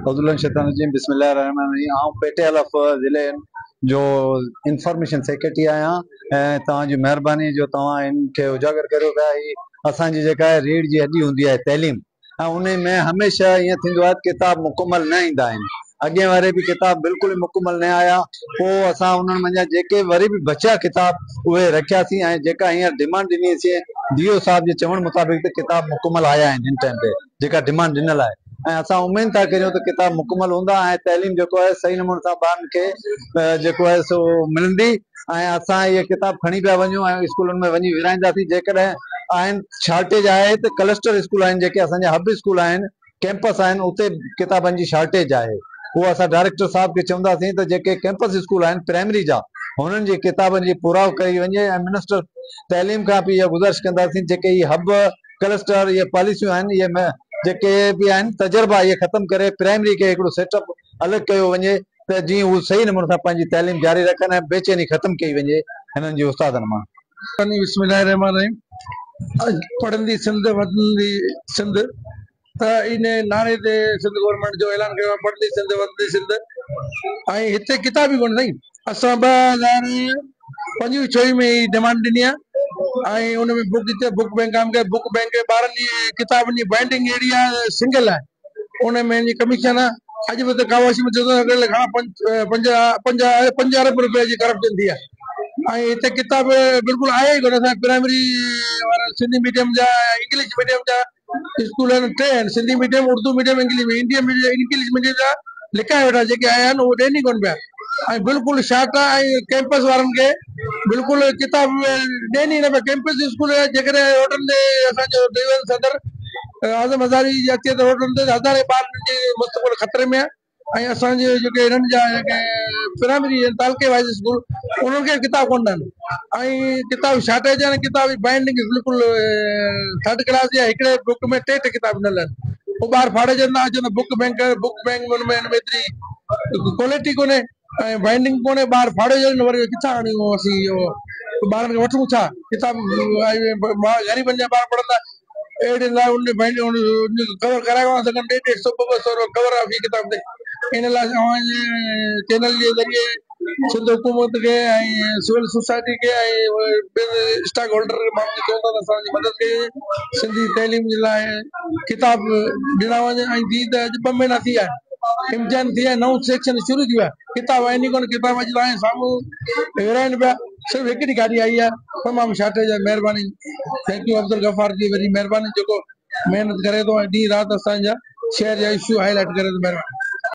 اعوذ بالله من الشيطان الرجيم بسم الله الرحمن الرحيم آئون پي ٽي ايل ايف ضلعي جو انفارميشن سيڪريٽري آهيان ۽ توهان جي مهرباني جو توهان ان کي اجاگر ڪريو ته اسان جي جيڪا ريڙهه جي هڏي هوندي آهي تعليم ۽ انهي ۾ هميشه ائين ٿيندو آهي ته ڪتاب مڪمل نه ايندا آهن. اڳين واري به ڪتاب بلڪل ئي مڪمل نه آيا. پوء اسان انهن منجهان جيڪي وري به بچيا ڪتاب اهي رکياسين ۽ جيڪا هينئر ڊمانڊ ڏني اسين ديو صاحب جي چوڻ مطابق ته ڪتاب مڪمل آيا آهن هن ٽائيم تي جيڪا ڊمانڊ ڏنل آهي ۽ اسان اميد ٿا ڪريون ته ڪتاب مڪمل هوندا ۽ تعليم جيڪو آهي صحيح نموني سان ٻارن کي جيڪو آهي سو ملندي. ۽ اسان اهي ڪتاب کڻي پيا وڃون ۽ اسڪولن ۾ وڃي ورهائينداسين جيڪڏهن آهن شارٽيج آهي ته ڪلسٽر اسڪول آهن جيڪي اسان جا هب اسڪول آهن ڪئمپس آهن اتي ڪتابن جي شارٽيج آهي اهو اسان ڊائريڪٽر صاحب کي چونداسين ته جيڪي ڪئمپس اسڪول آهن پرائمري جا هنن جي ڪتابن جي پراء ڪئي وڃي ۽ منسٽر تعليم کان به اها گذارش ڪنداسين جيڪي هي هب ڪلسٽر اهي پاليسيون آهن اهي جيڪي به آهن تجربا اهي ختم ڪري پرائمري کي هڪڙو سيٽ اپ الڳ ڪيو وڃي ته جيئن هو صحيح نموني سان پنهنجي تعليم جاري رکن ۽ بيچيني ختم ڪئي وڃي هنن جي استادن مان. سني بسم الله الرحمٰن الرحيم اڄ پڙهندي سنڌ وڌندي سنڌ ته ان نعري تي سنڌ گورنمينٽ جو اعلان ڪيو آهي پڙهندي سنڌ وڌندي سنڌ ۽ هتي ڪتاب ئي ڪونهي سائين اسان ٻه هزار پنجويهه ڇويهه ۾ هي ڊمانڊ ڏني آهي ۽ ان ۾ بڪ جتي بڪ بئنڪ قائم ڪيو بڪ بئنڪ ٻارن جي ڪتابن جي بائنڊنگ اهڙي آهي سنگل آهي ان ۾ جي ڪميشن اڄ به ته ڪاواشي ۾ چوڏهن سيڪڙي لاء گهڻا پنج پنج ارب رپين جي ڪرپشن ٿي آهي ۽ هتي ڪتاب بلڪل آهي ئي ڪونه اسان پرائمري وارا سنڌي ميڊيم جا انگلش ميڊيم جا اسڪول آهن ٽي آهن Sindhi medium Urdu medium English medium English medium جا لکايا ويٺا جيڪي آيا آهن اهي ڏين ئي ڪونه پيا ۽ بلڪل شاٽ آهي ۽ ڪيمپس وارن کي بلڪل ڪتاب ڏين ئي نه پيا ڪيمپس اسڪول جيڪڏهن هوٽل تي اسان جو ڊويزن صدر اعظم هزاري جي اچي ته روڊن تي هزارين ٻارڙن جي مستقبل خطري ۾ آهي ۽ اسان جي جيڪي هنن جا جيڪي پرائمري ۽ تعلقي وائز اسڪول انهن کي ڪتاب ڪونه آهن ۽ ڪتاب جي شارٽيج آهن ڪتاب جي بائنڊنگ بلڪل ٿرڊ ڪلاس جي آهي هڪڙي بڪ ۾ ٽي ٽي ڪتاب ڏنل آهن پوء ٻار ڦاڙجن ٿا اچن ته بڪ بئنڪ بڪ بئنڪ ۾ ان ۾ ايتري ڪوالٽي ڪونهي ۽ بائينڊنگ ڪونهي ٻاهر ڦاڙي وڃي ته وري ڪٿان آڻيون اسين اهو ٻارن کي وٺون ڇا ڪتاب غريبن جا ٻار پڙهندا اهڙي لاء ان جي بائينڊنگ ان جي ڪور ڪرائي ڪونه سگهن ڏيڍ ڏيڍ سؤ ٻه ٻه سؤ روپيا ڪور آهي في ڪتاب تي ان لاء اوهان جي چينل جي ذريعي سنڌ حڪومت کي ۽ سول سوسائٽي کي ۽ ٻين اسٽاڪ هولڊر کي ماڻهن کي چوندا ته اسان جي مدد ڪجي سنڌي تعليم جي لاء ڪتاب ڏنا وڃن ۽ جي ته اڄ ٻه مهينا ٿي ويا آهن امتحان ٿي ويا نئون سيڪشن شروع ٿي ويو آهي ڪتاب آهن ئي ڪونه ڪتاب اڄ تائين سامهون ورهائين پيا صرف هڪڙي گاڏي آئي آهي تمام شارٽيج آهي مهرباني ٿينڪ يو عبدالغفار جي وڏي مهرباني جيڪو محنت ڪري ٿو ۽ ڏينهن رات اسان جا شهر جا اشو هاء لائٽ ڪري ٿو مهرباني